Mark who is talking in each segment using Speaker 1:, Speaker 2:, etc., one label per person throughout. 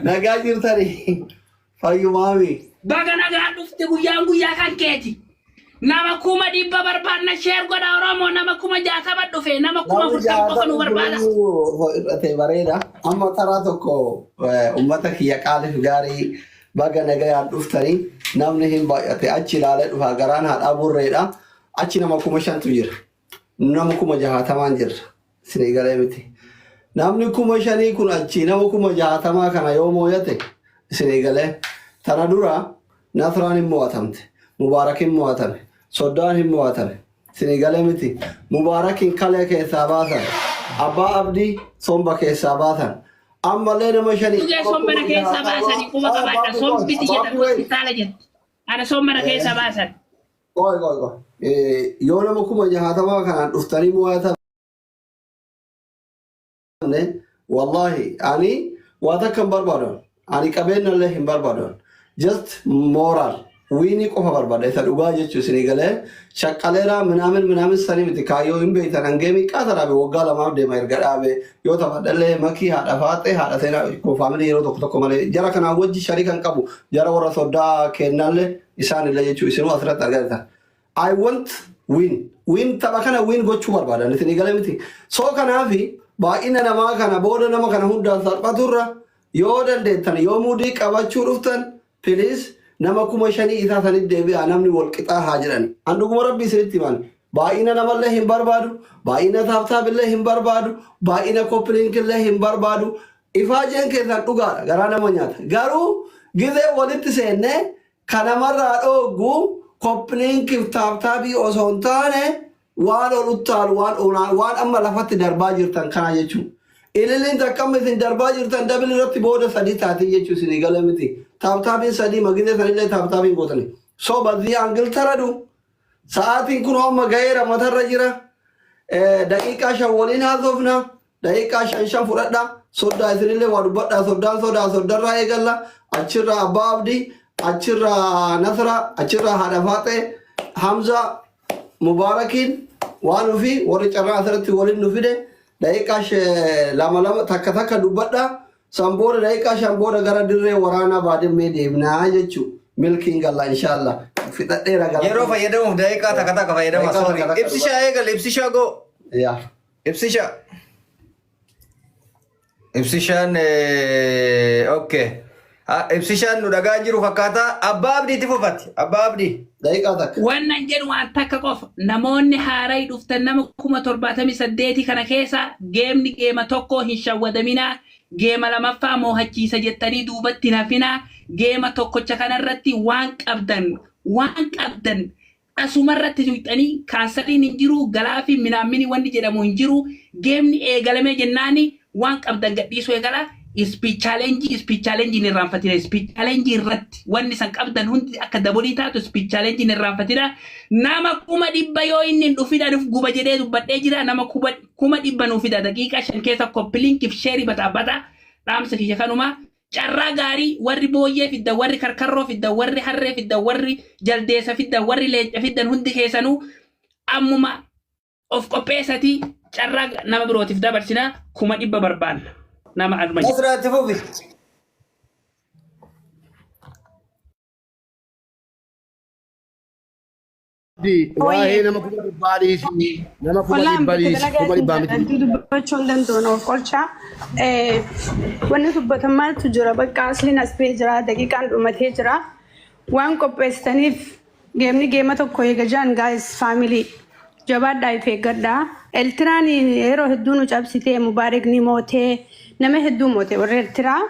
Speaker 1: Nagaa jirtanii fayyumaami. Baga nagaan
Speaker 2: dhufte guyyaan guyyaa kan keeti. Nama kuma dhibba barbaadna sheer godha Oromoo nama kuma jaatama dhufe nama kuma Namni furtama qofa nu jaatama barbaada. jiruu ho'irratee
Speaker 1: bareeda. Amma taraa tokko eh, uummata kiyya qaaliif gaarii baga nagayaan dhuftanii namni hin baay'ate achi ilaalee dhufa garaan haadhaa burreedha. Achi nama kuma shantu jira. nama kuma jahaatamaan jirra sinii galee miti namni kuma shanii kun achii nama kuma jahaatamaa kana yoo mooyate isinii galee tana dura nasraan hin mo'atamte mubaarak hin mo'atame soddaan hin mo'atame isinii galee miti mubaarak hin kalee keessaa baasan abbaa abdii somba keessaa baasan ammallee nama shanii Dhugaa sombara keessaa
Speaker 2: baasanii quba qabaadha. Sombiti jedhan hospitaala jedhu. Ana sombara keessaa baasan. Qoy qoy qoy.
Speaker 1: Yoo nama kuma jahaatamaa kanaan dhuftanii mo'atamne wallaahi ani waa takka hin barbaadon. Ani qabeenya illee hin barbaadon. Just moral wiinii qofa barbaada isa dhugaa jechuu isinii galee shaqqaleeraa minaamin minaamin sanii miti kaayyoo hin beektan hangee miiqaa tanaabe waggaa lamaaf deema erga dhaabe yoo taphadhallee makii haadha faaxee haadha seenaa koo faamilii yeroo tokko tokko malee jara kanaa wajji sharii kan qabu jara warra soddaa keennaallee isaan illee jechuu isinuu asirratti argaa jirtan. I want win. Win tapha kana win gochuu barbaadan isin eegale miti. So kanaaf baay'ina namaa kana booda nama kana hundaan salphaturra yoo dandeettan yoo muudii qabachuu dhuftan please nama kuma shanii isaa sanitti deebi'aa namni wal qixaa haa jedhan. An dhuguma rabbi isinitti himan. Baay'ina namallee hin barbaadu, baay'ina taaptaabillee hin barbaadu, baay'ina koppiliinkillee hin barbaadu. Ifaajeen keessan dhugaadha garaa nama nyaata garuu gizee walitti seenne ka namarraa dhooggu koppliinkif taaptaabii osoo hin taane waan ol uttaalu waan onaa waan amma lafatti darbaa jirtan kana jechuun ililiin takka amma isin darbaa jirtan dabili irratti booda sadii taatii jechuu isinii galee miti taaptaabiin sadii ma gizee sanillee taaptaabiin gootani so bazzii angil taradu Sa'aatiin kunoo amma gaheera matarra jira. Eh, Daqiiqaa shan waliin haasofna. Daqiiqaa shan shan fudhadha. Soddaa isinillee waa dubbadha. Soddaan sodaa soddarraa eegalla. Achirraa abbaa abdii, achirraa nasra, achirraa haadha faaxee, hamza, mubaarakiin waan ofii warri carraa asirratti waliin nu fide daqiiqaa she- lama lama takka takka dubbadha. San booda daqiiqaa shan booda gara dirree waraanaa Baadimmee deemna jechuu. Milkiin galla inshaalla. Fixadheera gala. Yeroo fayyadamuuf daqiiqaa
Speaker 3: takka takka fayyadama. Daqiiqaa Sorry. takka takka Ibsishaa eegal, ibsishaa go. Yaa.
Speaker 1: Ibsishaa.
Speaker 3: Ibsishaan eh, okay. Ah, Ibsishaan nu dhagaa jiru fakkaata. Abbaa Abdiitti fufati. Abbaa Abdii. Daqiiqaa takka. Wannan
Speaker 1: jedhu waan takka
Speaker 2: qofa namoonni haarayi dhuftan nama 78,000 kana keessaa geemni geema tokkoo hin shawwadaminaa geema lamaffaa moohachiisa jettanii duubatti hin hafinaa geema tokkocha kanarratti waan qabdan waan qabdan asumarratti tuyxanii kaansariin hin jiru galaafi minaammini wanni jedhamu hin jiru geemni eegalamee jennaani Waan qabdan gadhiisuu eegalaa. Speech challenge, speech challenge hin irraanfatina. Speech challenge irratti wanni san qabdan hundi akka dabolii taatu speech challenge hin irraanfatina. Nama kuma dhibba yoo inni hin dhufin anuf guba jedhee dubbadhee jira. Nama kuba, kuma dhibba nuu fida daqiiqaa shan keessa koppilinkiif sheerii bataa bata. Dhaamsa kiyya kanuma. Carraa gaarii warri booyyee fiddan, warri karkarroo fiddan, warri harree fiddan, warri jaldeessa fiddan, warri leenca fiddan hundi keessanuu ammuma of qopheessatii carraa nama birootiif dabarsinaa kuma dhibba barbaanna nama arma jiru. Nasraa itti fufi. Waa'ee
Speaker 4: nama kuma dhibbaa dhiisi. Nama kuma Wallaan dhibbaa bakka dhiisi. Kuma dhibbaa dalagaa miti. dubbachuu hin danda'u
Speaker 5: of qolchaa. Wanni dubbatan maaltu jira bakka asliin as ba'ee jira daqiiqaan dhumatee jira. Waan qopheessitaniif Geemni geema tokko eega jaan guys family jabaadhaa if eeggadhaa. Eltiraan yeroo hedduu nu cabsitee Mubaarik ni mootee nama hedduu moote warri Eltiraa.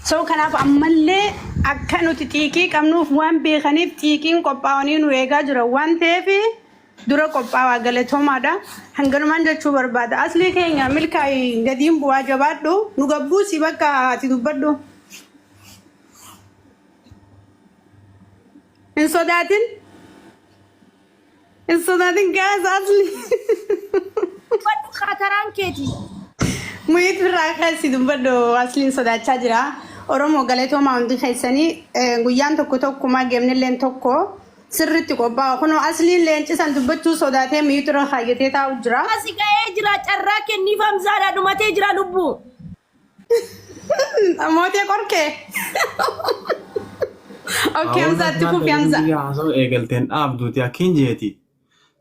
Speaker 5: So kanaaf ammallee akka nuti xiiqii qabnuuf waan beekaniif xiiqiin qophaa'anii nu eegaa jiran waan ta'eef dura qophaawaa galatoomaadha. Hanganumaan jechuu barbaada. Aslii keenya milkaa'i gadiin bu'aa jabaadhu nu gabbuusi bakka ati dubbadhu. Hin sodaatin. Hin sodaatin gaasa asli. Dubbadhu
Speaker 6: kaataraan keeti. Muhiit
Speaker 5: birraa keessi dubbadhu asliin sodaachaa jira. Oromoo galatoomaa hundi keessanii eh, guyyaan tokko tokkuma geemnilleen tokko sirriitti qophaa'u. Kunoo asliin leencisan dubbachuu sodaatee miitu irra kaayyatee taa'u jira. Asi ga'ee jira
Speaker 6: carraa kenniif hamzaadha dhumatee jira lubbuu.
Speaker 5: Mootee qorkee. Okkee Hamzaa itti fufi Hamzaa. Biyya haasa'u eegalteen
Speaker 6: dhaabduuti akkiin jeeti.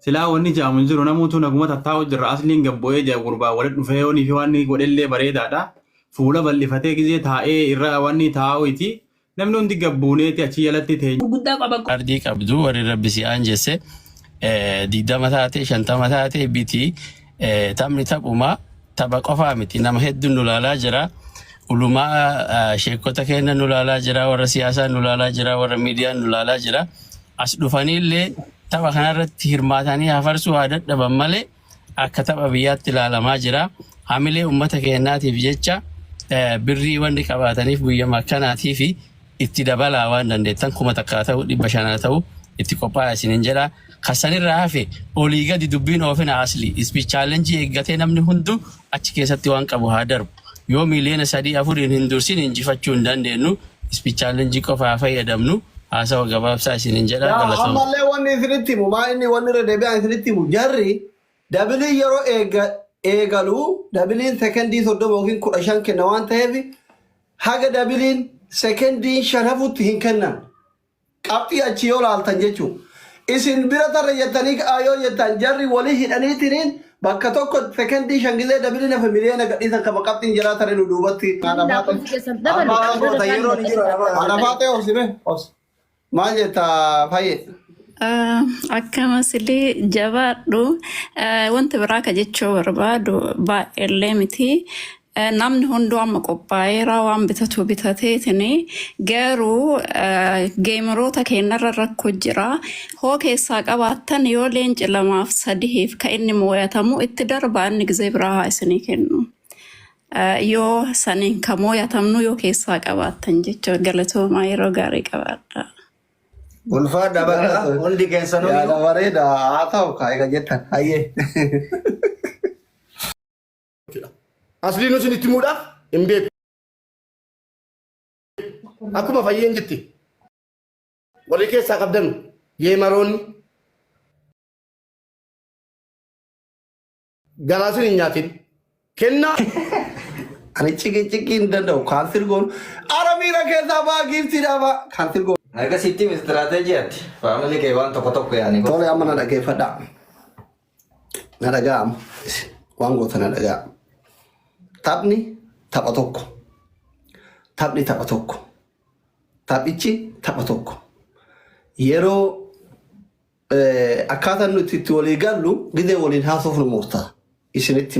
Speaker 6: Silaa wanni jaamu hin jiru namuutu naguma tattaa'u jirra asliin gabbo'ee jaa gurbaa walitti dhufee yoonii fi waan godhellee bareedaadha. Fuula bal'ifatee gizee taa'ee irra wanni taa'u iti Namni hundi gad buuneeti achi jalatti teenye. gurguddaa qaban kun ardii
Speaker 2: qabdu warri
Speaker 7: rabbi si aanjesse eh, digdama taate shantama taate biti eh, taphni taphuma tapha qofaa miti nama hedduun nu laalaa jira ulumaa eh, sheekota keenya nu laalaa jira warra siyaasaa nu laalaa jira warra miidiyaa nu laalaa jira as dhufaniillee tapha kanarratti hirmaatanii hafarsuu haa dadhaban malee akka tapha biyyaatti ilaalamaa jira. Hamilee uummata keenyaatiif jecha birrii wanni qabaataniif guyyama akkanaatii fi itti dabalaa waan dandeettan kuma takkaa ta'u dhibba shanaa ta'u itti qophaa'aa isinin jedha. Kassanirraa hafe olii gadi dubbiin oofina asli ispi chaalenjii eeggatee namni hundu achi keessatti waan qabu haa darbu. Yoo miiliyoona sadii afuriin hin dursin injifachuu hin dandeennu, Speech Challenge qofa haa fayyadamnu. Haasawa gabaabsaa isiniin jedha. Yaa Galatoomaa. ammallee wanni isinitti
Speaker 1: himu maa inni wanni irra deebi'aan isinitti himu jarri dabiliin yeroo eega eegalu dabiliin sekendii 30 yookiin 15 kenna waan ta'eef haga dabiliin sekendiin shan hafutti hin kennan. Qabxii achii yoo laaltan jechuu. Isin bira tarre jettanii ka'aa yoo jettaan jarri wali hidhaniitiniin bakka tokko sekendii shan gizee dabiliin hafe miliyoona gadhiisan kama qabxiin jaraa tare nu duubatti. Haadha faaxee. Amma goota yeroo ni jira. Haadha faaxee obsi mee obsi. Maal jetta fayyee. Akkamas
Speaker 8: illee jabaadhu. Wanta biraa ka jechuu barbaadu baay'eellee miti. Namni hunduu amma qophaa'eera waan bitatu bitateetini garuu geemiroota keenyarra rakko jira hoo keessaa qabaattan yoo leenci lamaaf sadihiif ka inni mooyatamu itti darbaa inni gizee biraa haa isinii kennu yoo saniin ka mooyatamnu yoo keessaa qabaattan jecha galatoomaa yeroo gaarii qabaadha. Ulfaa
Speaker 3: dhabadha hundi keessanuu. Yaada bareeda
Speaker 1: haa ta'u kaa egaa jettan hayyee.
Speaker 4: jechuudha. Aslii nu isinitti himuudhaaf hin beeku. Akkuma fayyeen jetti warri keessaa qabdanu yeemaroonni garaa isin hin nyaatin kennaa
Speaker 1: Ani ciki ciki hin danda'u kaalsir goon ara miira keessaa baa giiftii dhaabaa kaalsir goon. Akkasitti istiraateejiyaatti
Speaker 3: faamilii kee waan tokko tokko yaani. Tole amma na dhaggeeffadhaa.
Speaker 1: Na dhaga'a amma isin waan goota na dhaga'a. Taphni tapha tokko. Taphni tapha tokko. Taphichi tapha tokko. Yeroo eh, akkaataan nuti itti walii gallu gidee waliin haasofnu murtaa. Isinitti